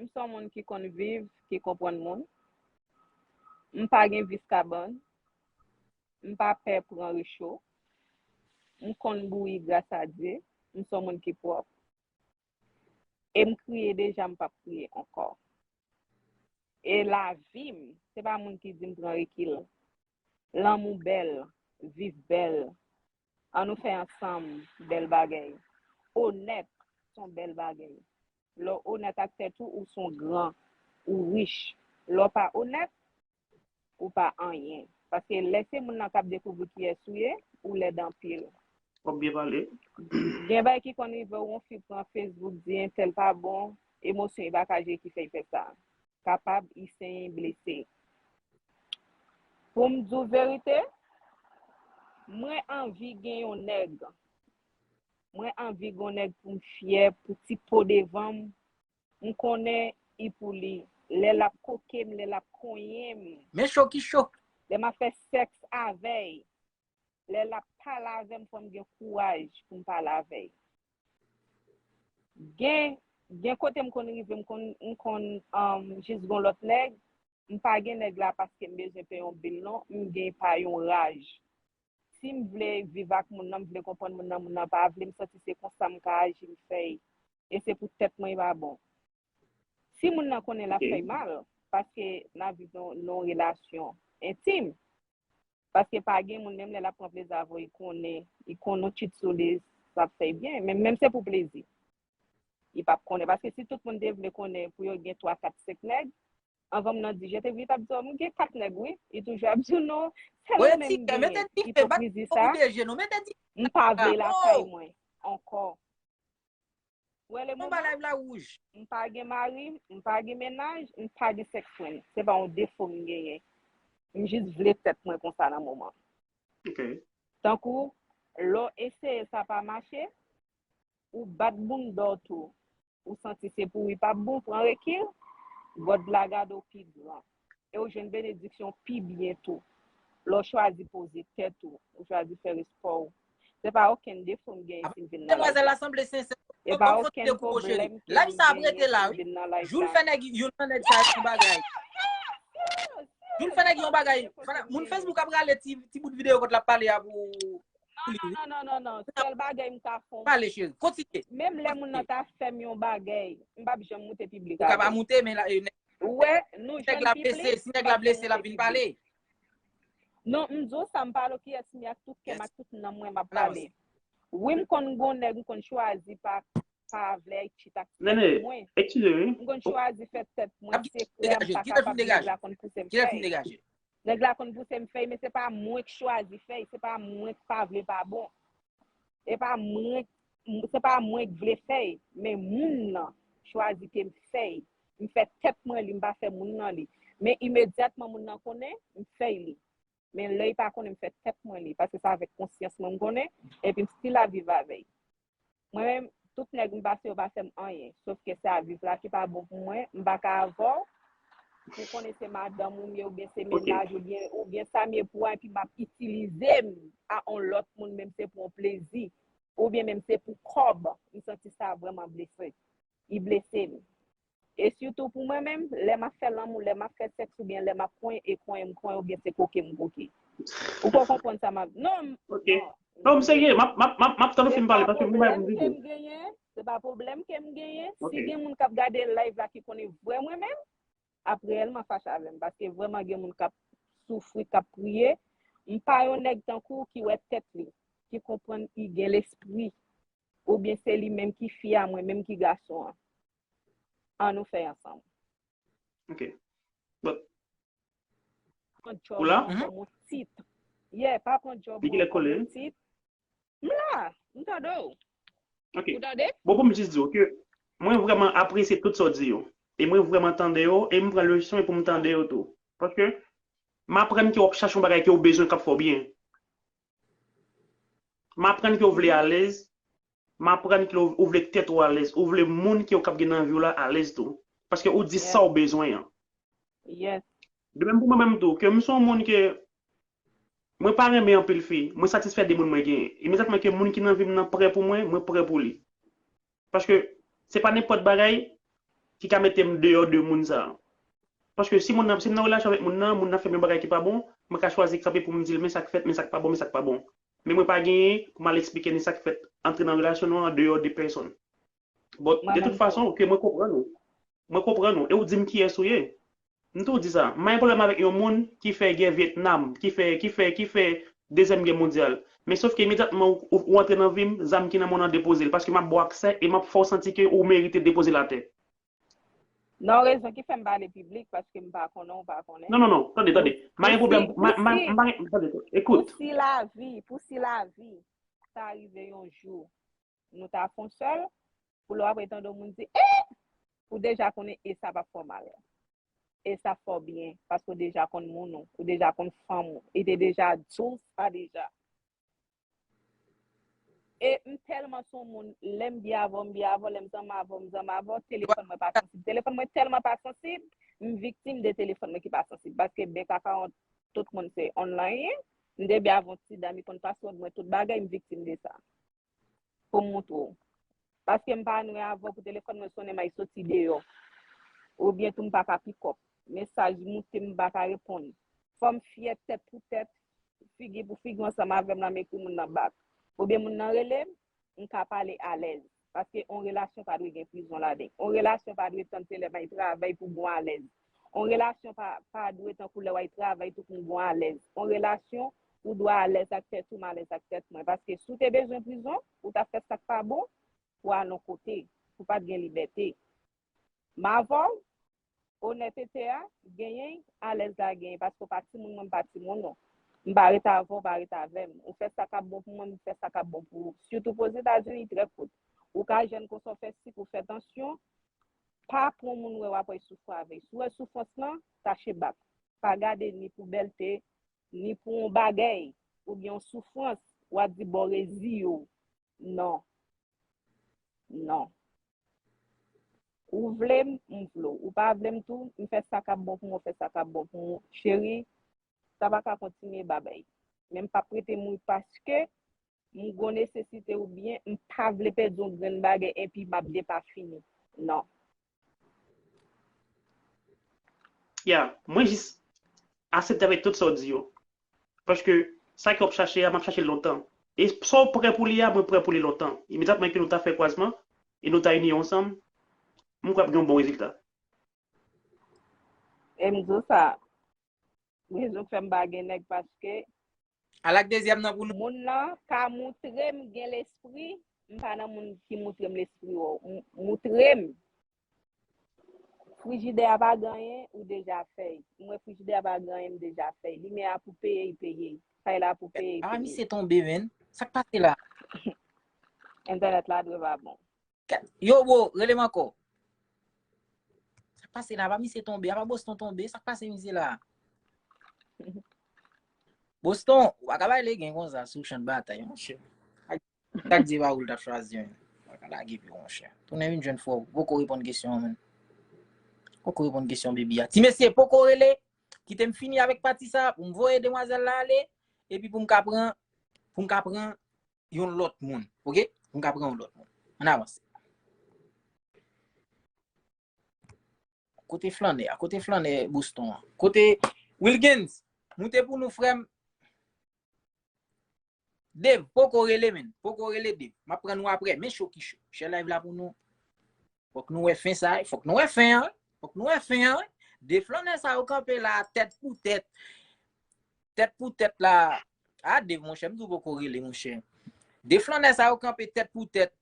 M s on moun ki konn viv, ki konprann moun. M pa gen vis kabann. M pa pè pran recho. M konn bouyi gras a Dye. M s on moun ki pwòp. E m kriye deja m p ap kriye ankò. E lavi m, se pa moun ki di m pran rekil. Lanmou bèl, viv bèl, an nou fè ansanm bèl bagèy. Onèt son bèl bagèy. Lè w onèt ak tèt ou, ou son gran, ou rich. Lè w pa onèt, ou pa anyen. Paske lè se moun nan k ap dekouvri kiyès ou ye, ou lèd anpil. Wap byen pale. Gen bagay ki konn rive w on fi pran Facebook di entèl pa bon, emosyon epa ka jere ki fè l fè sa. kapab Isenyen blese. Pou m di w verite, mwen anvi gen yon nèg. Mwen anvi gen yon nèg pou m fyè, pou ti po devan m, m konnen i pou li, lè l ap koke m, lè l ap konyen m. Men cho ki cho! Lè m ap fè sèks avè l, lè lap pale avè m fò m gen kouraj pou m pale avè l gen gen kote m konn rive m konn m konn jis gon lòt nèg m pa gen nèg la paske m bezwen peye yon bil non m gen pa yon raj si m vle viv ak moun nan m vle konprann moun nan moun nan pa vle m santi se konsa m ka aji m fè y e se pou tèt mwen y pa bon si moun nan konnen lap fè y mal paske nap viv nan yon relasyon entim. paske pa gen moun menm lè lap pran plezi avèw li konnen li konn ou chit sou li sap fèy byen menm menm se pou plezi li pap konnen paske si tout moun te vle konnen pou yo gen 3 4 5 nèg anvanm nan di je te vu li tap diw m gen 4 nèg wi li toujou ap diw non sèl ou menm m genyen ipokrizi sa m pa vle lakay mwen ankò. Wè le moman. Live la wouj. M pa gen mari, m pa gen mennaj, m pa gen sex friend. Se pa yon defo m genyen. M jis vle tèt mwen konsa nan moman. Ok. Tankou, lè w eseye sa pa mache, ou bat bounda w tou. Ou santi se pou wi pa bon, pran rekil, God la gade w pi gran. e ou jwenn benediksyon pi byen tou lè w chwazi poze tèt ou, ou chwazi fè respè w. Se pa okenn defo m genyen si m vin nan live la. E pa okenn pwoblèm ke m genyen si m vin nan live la. Non, non, non, non, sèl bagay m ta fè w, menm lè moun nan ta fè m yon bagay, m p ap janm moute piblik avè l. Wè, nou jwenn pi plis. Si nèg la blese, l ap vin pale. Non, m di w sa, m pale w kiyès m ye ak tout kè m ak tout nanm mwen m ap pale. Wi m konn gen yon nèg m konn chwazi pa vle l chita ak tèt mwen. M konn chwazi fè tèt mwen sekrè m pa kapab nèg la konn pouse m fè. Nèg la konn pouse m fèy men se pa mwen k chwazi fèy, se pa mwen k pa vle pa bon. E pa mwen k se pa mwen k vle fèy men moun nan chwazi ke m fèy. M fè tèt mwen li m pa fè moun nan li. Men imedyatman moun nan konnen, m fèy li. Men lè y pa konnen m fè tèt mwen li paske se avèk konsyans mwen m konnen epi m stil ap viv avè y. Mwen menm tout nèg m pase yo pa fèm anyen sof ke sa viv la ki pa bon pou mwen m pa ka avèw pou w konnen se madanm ou m ye oubyen se mennaj ou byen oubyen sa m ye pou w epi m ap itilize m a on lòt moun menm se pou on plezi oubyen menm se pou kòb m santi sa vrèman blese i blese m. E sitou pou mwen menm, lè m ap fè lanmou, lè m ap fè sèks oubyen lè m ap kwen e kwen m kwen oubyen se koke m koke. Ou pa konprann sa m ap di. Non m, non. Non m serye, m ap tann ou fin pale paske m gen bagay pou m di tou. Se pa pwoblèm ke m genyen. Si gen moun k ap gade live la ki konnen vrè mwen menm, ap reyèlman fache avè m paske vrèman gen moun k ap soufri, k ap priye. M pa yon nèg tankou w ki wè tèt li, ki konprann ki gen lespri oubyen se li menm ki fi a mwen menm ki gason an. An nou fè ansanm. Ok. Bon. Pran job Ou la? nan kòm ou tit. Yeah, pa pran job Di ki nan lè kòm kole. ou tit. M la, m tande w. Ok. Ou tande? Bon pou m jis di w ke mwen vrèman apresye tout sa w di yo. E mwen vrèman tande yo e m pran leson pou m tande yo tou. Paske m aprann ke w ap chache yon bagay ke w bezwen k ap fè w byen. M aprann ke w vle alèz M aprann k lè ou vle k tèt ou alèz, ou vle moun ki ou k ap gen nan vi w la alèz tou. Paske ou di sa ou bezwen an. Yes. De menm pou mwen menm tou, ke m se yon moun ke mwen pa renmen anpil fi, mwen satisfè de moun mwen genyen. Imedyatman ke moun ki nan vi m nan prè pou mwen, mwen prè pou li. Paske se pa nenpòt bagay ki ka mete m deyò de moun sa a. Paske si moun nan, si m nan relasyon avèk moun nan, moun nan fè m yon bagay ki pa bon, mwen ka chwazi kanpe pou m di l men sa k fèt, men sa k pa bon, men sa k pa bon. Men mwen pa gen pou mal esplike ni sak fèt antre nan relasyon nou an deyò de pèsonn. Bon, de tout fason ke mwen konprann ou, mwen konprann ou e ou dim kiyès ou ye. M tou di sa, m pa gen pwoblèm avèk yon moun ki fè gè Vietnam, ki fè, ki fè, ki fè dezyèm gè mondyal. Men sof ke imedyatman ou antre nan vi m, zam ki nan men w nan depoze l paske m ap ba w aksè e m ap fè w santi ke ou merite depoze l atè. Non rezon ki fèm pale piblik paske m pa konnen ou pa konnen. Non non non, tande tande, m pa gen pwoblèm, m pa, m pa, m pa gen, tande, ekout. Pou si lavi, pou si lavi ta rive yon jou nou ta fon sèl, pou lè w ap tande yon moun di e! Ou deja konnen e sa p ap fè w mal. E sa ap fè w byen paske ou deja konn moun ou, ou deja konn fanm ou, e te deja di w sa deja. E m telman son moun lem byen avèw m byen avèw lem zanm avèw m zanm avèw telefòn mwen pa sansib telefòn mwen telman pa sansib m viktim de telefòn mwen ki pa sansib paske byen ka paran tout moun se online m te byen avèw ti dam li konn password mwen tout bagay m viktim de sa. pou m montre w. Paske m pa anwe avan pou telefòn mwen sonnen may soti deyò. Oubyen tou m pa ka pikòp. Mesaj moute m pa ka reponn. Fò m fyè tèt pou tèt, figi pou figi ansanm avè m la m ekri moun nan bak. Oubyen moun nan rele m, m ka pale alèz. Paske on relasyon pa dwe gen prizon ladan l. On relasyon pa dwe tann se lè may travay pou bon alèz. On relasyon pa pa dwe tankou lè way travay tout moun bon alèz on relasyon ou dwa alèz ak tèt ou m alèz ak tèt mwen paske si w te bezwen prizon ou tap fè sak pa bon pou al on kote pou pat gen libète m avè w onètete a genyen alèz la genyen paske w pa timoun mwen m pa timoun non m pa ret avè w pa ret avè m ou fè sa kap bon pou mwen m fè sa kap bon pou ou sitou pozitazini trè kout ou ka jèn konsa w fè sik ou fè tansyon Pa pran moun wè wap wè soufran avèy si w wè soufrans lan tache bat pa gade ni pou bèlte ni pou yon bagèy ou byen yon soufrans wap di bon reziye w non non ou vle m m vle w ou pa vle m tou m fè sa kap bon pou mwen w fè sa kap bon pou mwen cheri sa pa ka kontinye babèy men m pap rete mouri paske. M gon nesesite ou byen m pa vle pèdi yon grenn bagay enpi map depafini nan. Yeah, mwen jis asepte avèk tout sa w di yo. Paske sa ke w ap chache a m ap chache l lontan. E sa w prè pou li a mwen prè pou li lontan. Imedyatman ke nou ta fè kwazman e nou ta ini yo ansanm, m kwè ap gen yon bon rezilta. E m di w sa, rezon k fè m pa gen nèg paske Al ak dezyèm nan pou nou. Moun lan pa moutre m gen lespri, m pa nan moun ki moutre m lespri w moutre m. Frijidè a pa gen anyen, ou deja fèy. M wè frijidè a pa gen anyen, m deja fèy. Limyè a pou peye, y peye. Fay la pou peye, y peye. A misye tonbe menn, sa k pase la? Entènèt la dwe pa bon. Yo bro, rele m ankò. Sak pase la, apa misye tonbe, apa Boston tonbe, sak pase misye la. Boston, ou pa ka bay legen konsa sou chan de batay mon chè. Sak di ba ou l tap chwazi men. Ou ka lage pi mon chè. Tounen vin jwenn fò ou. Poko reponn kesyon an men. Poko reponn kesyon baby a. Ti mesye poko rele, kite m fini avèk pati sa pou m voye demwazèl la ale, epi pou m ka pran, pou m ka pran. yon lòt moun. Ok? Mwen ka pran yon lòt moun. An avanse. Kote flanè a? Kote flanè Boston an? Kote Wilgens? Moute pou nou frèm. Dev, poko rele men. Poko rele dev. Map pran nou apre. Men chou ki chou. Chè live la pou nou. Fok nou wè fen sa wi. Fok nou wè fen an wi. Fok nou wè fen an wi. De flannè sa yo kanpe la tèt pou tèt. Tèt pou tèt la. A de mon chè m tou poko rele mon chè. De flannè sa yo kanpe tèt pou tèt.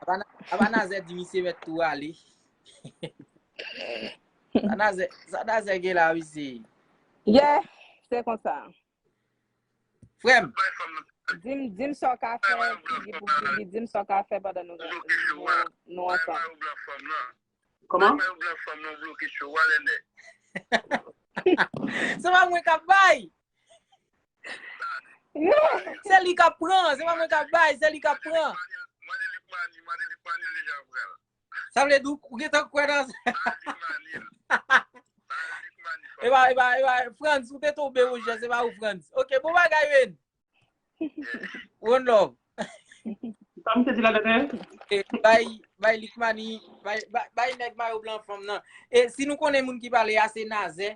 Aba nan zè di misye met tou ale. Sa nan zè gen la wi se. Ye, se konsa. Frèm. Dim dim sa w ka fè figi pou figi dim sa w ka fè pandan nou nou ansanm. Kòman? Se pa mwen k ap bay. Se li k ap pran. Se pa mwen k ap bay. Se li k ap pran. Sa vle di ou gentan kwè nan sa? Mwen pa gen kwè nan li a. E ba, e ba, e ba, Frantz, ou te toube ou jè, se ba ou Frantz. Ok, bon bagay Wayne. One love. Sa misye di la dèdè? E, bay, bay Likmani, bay, bay nèg mayo blan fanm nan. E, si nou konnen moun ki pale a, se Nazè.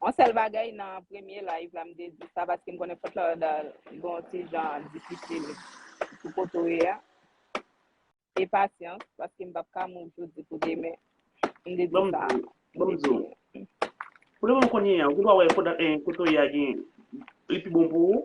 On sèl bagay nan premye live la m te di sa paske m konnen Fort Lauderdale gon ti jan difisil pou kote w ye a. E pasyans paske m pap ka move jodi pou demen. M te di Bon m sa. di, bon m di w. Pou le moman kounye a, ou gen dwa wè kote w ye a gen li pi bon pou ou.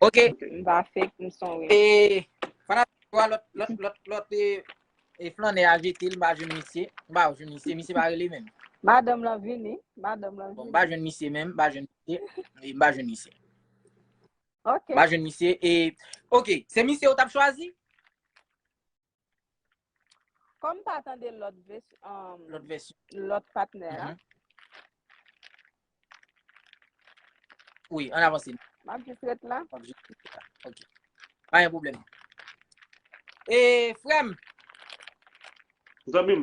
Ok. M va fek m son wi. E, fana fwa lot, lot, lot, lot e, e flanè a jete l m pa jwenn misye. M pa jwenn misye, misye pa rele menm. Madanm lan vini, madanm lan vini. Bon, m pa jwenn misye menm, m pa jwenn misye, e m pa jwenn misye. Ok. M pa jwenn misye e, ok, se misye ou tap chwazi? Kòm m pa tande lòt patnè a. Wi, an avanse. M ap jis ret la. M ap jis ret la. Ok. Pa yon problem. E, frèm. Zanmim.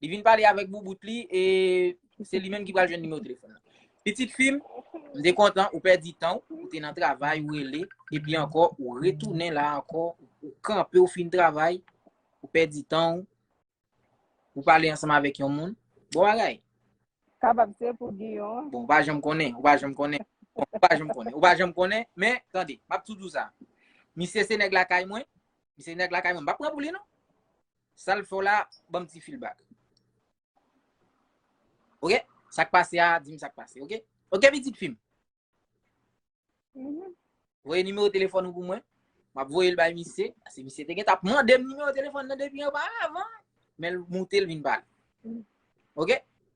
Li vin pale avèk boubout li e se li menm ki pral jwenn nimewo telefòn nan. Pitit fi m, m te kontan ou pèdi tan ou, ou te nan travay, ou rele, epi ankò ou retounen la ankò, ou kanpe ou fin travay, ou pèdi tan ou, ou pale ansanm avèk yon moun. Bon bagay. Kapab se pou Giyon. Bon, ou pa janm konnen, ou pa janm konnen. Bon, ou pa janm konnen, ou pa janm konnen, men, tande, m ap toujou sa. Misye se nèg lakay mwen, misye se nèg lakay mwen, m pa pran pou li non. Sal fè w la banm ti feelback. Ok sak pase a dim sak pase ok. Ok pitit fim. Mhm. Voye nimewo telefon ou pou mwen. Map voye l bay misye. Ase misye te gen tap mande m nimewo telefon nan depi anba avan. Men l moute l vin bal. Mhm. Ok.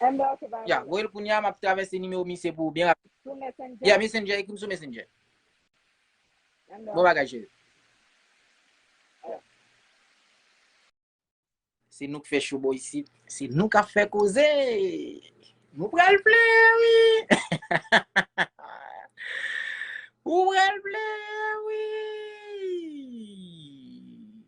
Amber se pa Ya, voye l kounye a, m ap travèse nimewo misye pou ou byen rapid. Sou Messenger? Ya, Messenger, ekri m sou Messenger. Amber. Bon bagay cheri. Se nou k fè show bò isit. Se nou k ap fè koze! Nou pral plen wi! Ou pral plen wi!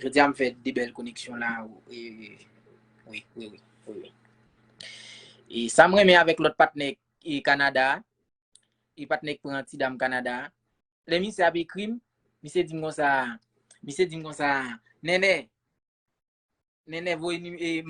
Jodia m fè 2 bèl koneksyon la wi wi wi wi. E sam renmen avèk lòt patnè e Canada a, e patnè k pran ti dam Canada a, lè misye ap ekrim, misye dim konsa, misye dim konsa, Nènè, Nènè voye e.